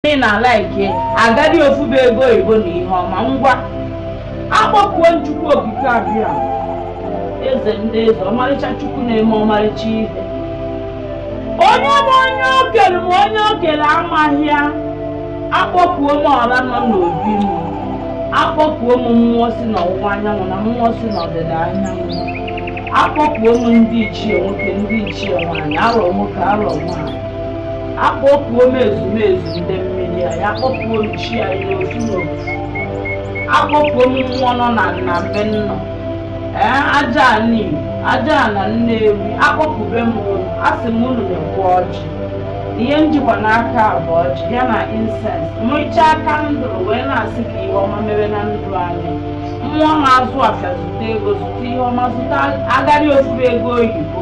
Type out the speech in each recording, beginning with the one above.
ị na-ala ike agadi ofufe ego oyibo na ihe ọma ngwa akpọkuo m Chukwu okike abịa eze ndị eze ọmarịcha Chukwu na-eme ọmarịcha ihe onye ma onye o kere ma onye o kere amaghị ya akpọkuo m ọra nọ n'obi m akpọkuo m mmụọ si n'ọwụwa anyanwụ na mmụọ si n'ọdịda anyanwụ akpọkuo m ndị ichie nwoke ndị ichie nwaanyị arọ nwoke arọ nwaanyị akpọkuo m ezumezu ndị mmiri anyị akpọkuo m chi anyị n'ofu n'ofu akpọkuo m mmụọ nọ na nna be nnọ ee aja ana igbo aja ana nnewi akpọkube m unu a sị m unu nekwa ọjị ihe m jikwa n'aka a bụ ọjị ya na incense mụcha aka ndụrụ wee na-asị ka ihe ọma mere na ndụ anyị mmụọ na-azụ afịa zụta ego zụta ihe ọma zụta agadi ofufe ego oyibo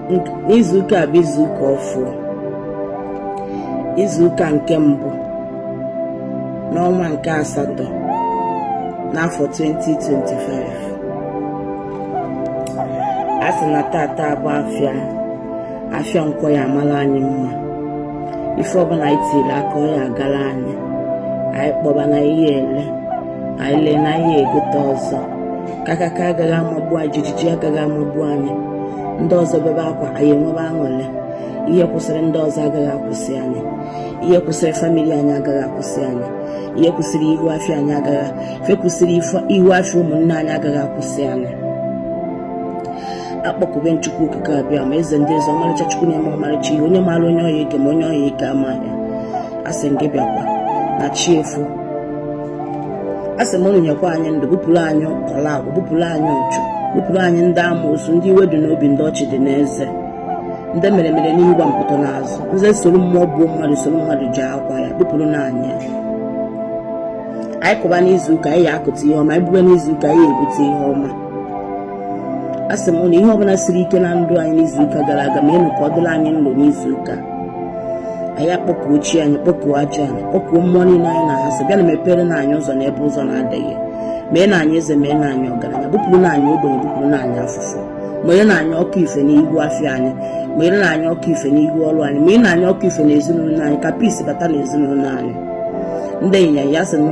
izuụka a bụ izuụka ọfụrụ izuụka nke mbụ n'ọnwa nke asatọ n'afọ 2025 a sị na taata bụ afịa afịa nkwọ ya amara anyị mma ife ọbụla anyị tiri aka ọ ya agara anyị anyị kpọba na anyị ele anyị lee na anyị egote ọzọ kakaka agaghị amagbu anyị jijiji agaghị amagbu anyị ndị ọzọ bebe akwa anyị enwebe aṅụrị ihe kwụsịrị ndị ọzọ agaghị akwụsị anyị ihe kwụsịrị family anyị agaghị akwụsị anyị ihe kwụsịrị ihu afịa anyị agaghị ife kwụsịrị ihu afịa ụmụnne anyị agaghị akwụsị anyị akpọkube m chukwu okike abịama eze ndị eze ọmarịcha chukwu na-eme ọmarịcha ihe onye maara onye ọ ya-eke ma onye ọ ya-eke amaghị a sị gị bịakwa na chi efo a sị m unu nyekwa anyị ndụ bupụrụ anyị ala agwụ bupụrụ anyị uchu bupụrụ anyị ndị amoosu ndị iwe dị n'obi ndị ọchị dị n'eze ndị mere mere n'ihu gwompiti n'azụ ndị soro mmụọ gbuo mmadụ soro mmadụ je akwa ya bupụrụ na anyị anyị kụba n'izuụka anyị ya akụta ihe ọma anyị bube n'izuụka anyị ebute ihe ọma a sị m na ihe ọbụla siri ike na ndụ anyị n'izuụka gara aga meenụ ka ọ dịrị anyị nro n'izuụka anyị akpọkuo chi anyị kpọkuo aja anyị kpọkuo mmụọ niile anyị na-asị bịa na mepere na anyị ụzọ n'ebe ụzọ na-adịghị mee na anyị eze mee na anyị ọgaranya bupụrụ na anyị ogbenye bupụrụ na anyị afụfụ mere na anyị ọkụ ife n'ihu afịa anyị mere na anyị ọkụ ife n'ihu ọrụ anyị mere na anyị ọkụ ife na ezinụlọ anyị ka peace bata na ezinụlọ anyị ndị anyị ya sị na